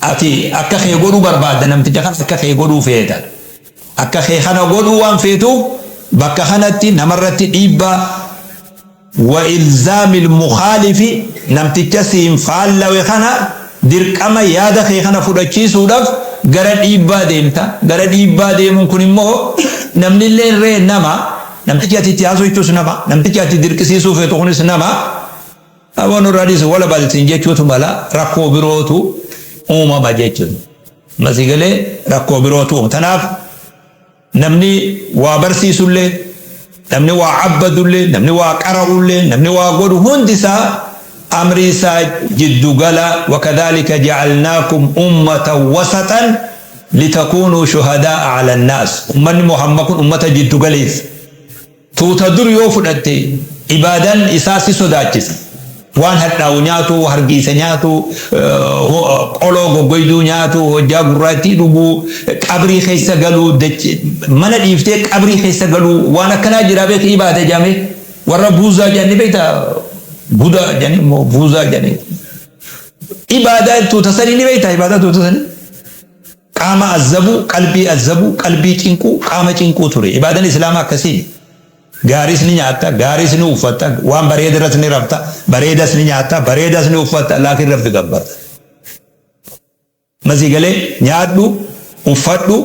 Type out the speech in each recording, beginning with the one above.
Ati akka kee godhuu barbaadda namticha kana akka kee godhuu feeta. Akka kee kana godhuu waan feetuuf bakka kanatti namarratti dhiibbaa wa ilzaamil mukhaalifi namticha siin faallawe kana dirqama yaada kee kana fudhachiisuudhaf gara dhiibbaa deemta. Gara dhiibbaa deemuun kun immoo namnilleen ree nama, namtichi ati itti haasoytus nama, namtichi ati dirqisiisuu feetu kunis nama. Abo nurraa dhiisi walabalh siin jechuutu mala rakkoo birootu uumama jechuun ma si galee rakkoo birootu uumama tanaaf namni waa barsiisullee namni waa abbadullee namni waa qara'ullee namni waa godhu hundi isaa amrii isaa jiddu gala wakadhalika ja'alnaakum ummatan wasaxan litakuunuu shuhadaa'a alannaas ummanni muhamma kun ummata jiddu galeessa Tuuta dur yoo fudhatte ibaadan isaa si sodaachisa. Waan hadhaawu nyaatu, hargiisa nyaatu, qoloo goggoyduu nyaatu, hojjaa gurraattii dhuguu, qabrii keessa galuu, mana dhiiftee qabrii keessa galuu waan akkanaa jira beeki ibaada jedhamee. Warra buuzaa jedhan ni beekta? Budaa jedhanii moo buuzaa jedhanii. Ibaadaa tuuta sanii ni beekta ibaadaa tuuta sanii? Qaama azzabu, qalbii azzabu, qalbii cinqu, qaama cinquu ture. Ibaadan Islaama akkasii mi. Gaariis ni nyaatta, gaariis ni uffatta, waan bareeda irras ni rafta, bareedas ni nyaatta, bareedas ni uffatta, laakiin Rabbi gabbarta. Ma sii galee? Nyaadhu, uffadhu.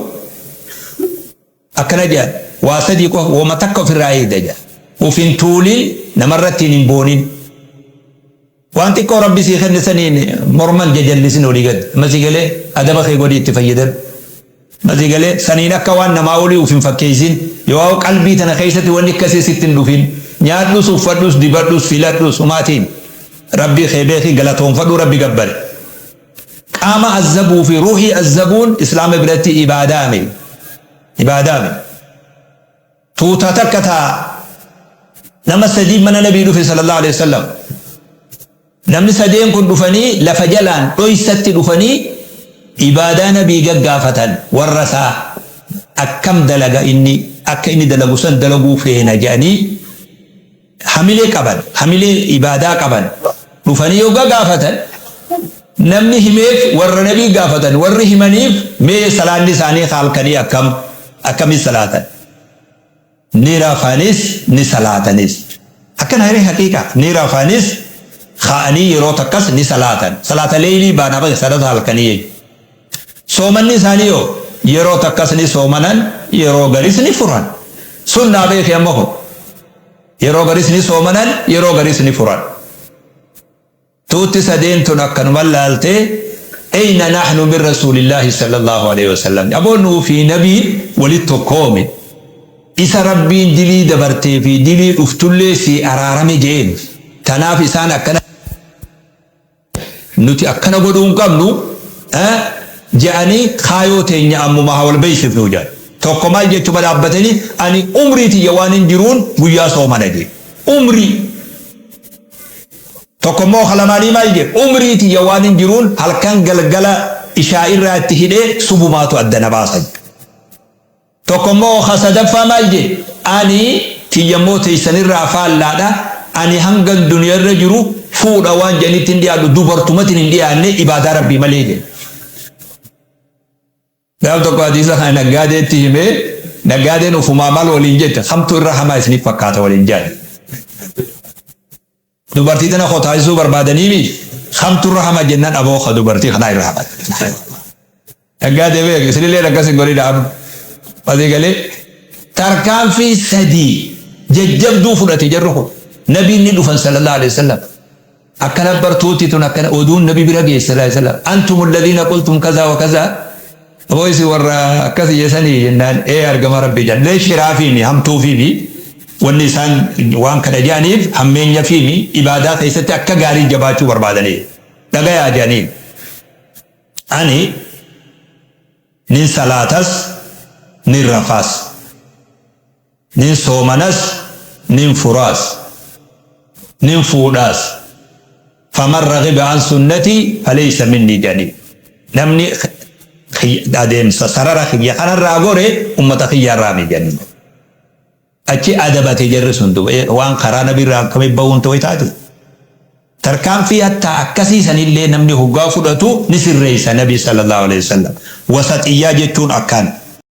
Akkana jedhan, Waa sadii qofa, woma takka ofirraa eegda jedhan. Uf hin tuulin, namarratti hin boonin. Waan xiqqoo Rabbi sii kenne saniin morma hin jajallisin olii gad. Amma sii galee? Adaba kee godhii itti fayyadami. Amma sii galee? Saniin akka waan namaa olii uf hin fakkeessin. Yoo qalbii tana keessatti wanni akkasii sitti hin dhufin, nyaadhus, uffadhus, dibadhus, filadhus, humaa tiin. Rabbii kee beeki, galatoonfadhu, Rabbi gabbari. Qaama azzabuu fi ruuhii azzabuun Islaama biratti ibaadaami. Ibaadaami. Tuuta takka taa nama sadii mana nabii dhufe sallallahu alaihi wasallam. Namni sadeen kun dhufanii lafa jalaan dhoysatti dhufanii ibaadaa nabii gaggaafatan warra isaa akkam dalaga inni akka inni dalagu san dalaguu feena jedhanii hamilee qaban, hamilee ibaadaa qaban dhufanii yogga gaafatan, namni himeef warra Nabii gaafatan, warri himaniif mee salaanni isaanii ka halkanii akkam? Akkamitti salaatan? Ni rafanis ni salaatanis. Akkana ree haqiiqa? Ni rafanis ka'anii yeroo takkas ni salaatan. Salaata leeylii baana salata halkanii jechuudha. Soomanni isaanii hoo? Yeroo takkas ni soomanan, yeroo garis ni furan. Sunnaa beeki amma kun. Yeroo garis ni soomanan, yeroo garis ni furan. Tuutti sadeen tun akkanuman laaltee, Eyna nahnu min Rasuulillaahi sallallaahu aleyhi wa sallam. Aboo nuu fi Nabiin walitti tokkoomi. Isa Rabbiin dilii dabartee fi dilii dhuftullee sii araarame je'een. Tanaaf isaan akkana. nuti akkana godhuu hin qabnu jedhanii kaayoo teenya ammumaa haa wal beeksifnu jedhan. Tokko maal jechuma dhaabbatanii ani umrii tiyya waanin jiruun guyyaa soomana jedhe. Umrii! Tokko immoo ka lamaanii maal jedhe umrii tiyya waanin jiruun halkan galgala ishaa'irraa itti hidhee subumaatu adda na baasa jedhe. Tokko immoo ka sadaffaa maal jee ani tiyya immoo teessan irraa faallaadha ani hangan duniya irra jiru fuudha waan jedhanitti hin dhiyaadhu dubartumatin hin dhiyaanne ibaadaa rabbii malee jee. Gaaf tokko hadiisa kana naggaadeetti himee naggaadeen ufumaa maal waliin jette kamtu irra hamaa isiniif fakkaata waliin jedhan. Dubartii tana koo taasisuu barbaadaniimi kamtu irra hama jennan aboo ka dubartii kanaa irra hama. Dhaggaa deebi'e isinillee akkas hin godhin amma. Asii galee tarkaanfii sadii jajjabduu fudhate jarri kun. Nabiin ni dhufan sallallahu alaihi wasallam. Akkana bartuutti tun akkana oduun nabi bira geesse sallallahu alaihi wasallam. Antum alladhiina qultum kazaa wa kazaa Aboo isin warra akkas iyya sanii jennaan ee argama rabbii jedhan mee shiraa fiimi hamtuu fiimi wanni isaan waan kana jedhaniif hammeenya fiimi ibaadaa keessatti akka gaarii jabaachuu barbaadanii dhagayaa jedhaniin ani nin salaatas nin rafaas Nin soomanas, nin furaas, nin fuudhaas. Faman ragiba an sunnatii faleysa minnii jedhaniin. Namni adeemsa sarara kiyya kanarraa gore ummata kiyyaarraa miti jedhaniin. Achi adabate jarri sun duuba. Ee waan karaa nabiirraa akkamitti bahuun too taati? Tarkaanfii hattaa akkasii sanillee namni hoggaa fudhatu ni sirreeysa nabiin sallallaahu aleyhi wasallam. Wasaxiyyaa jechuun akkaan.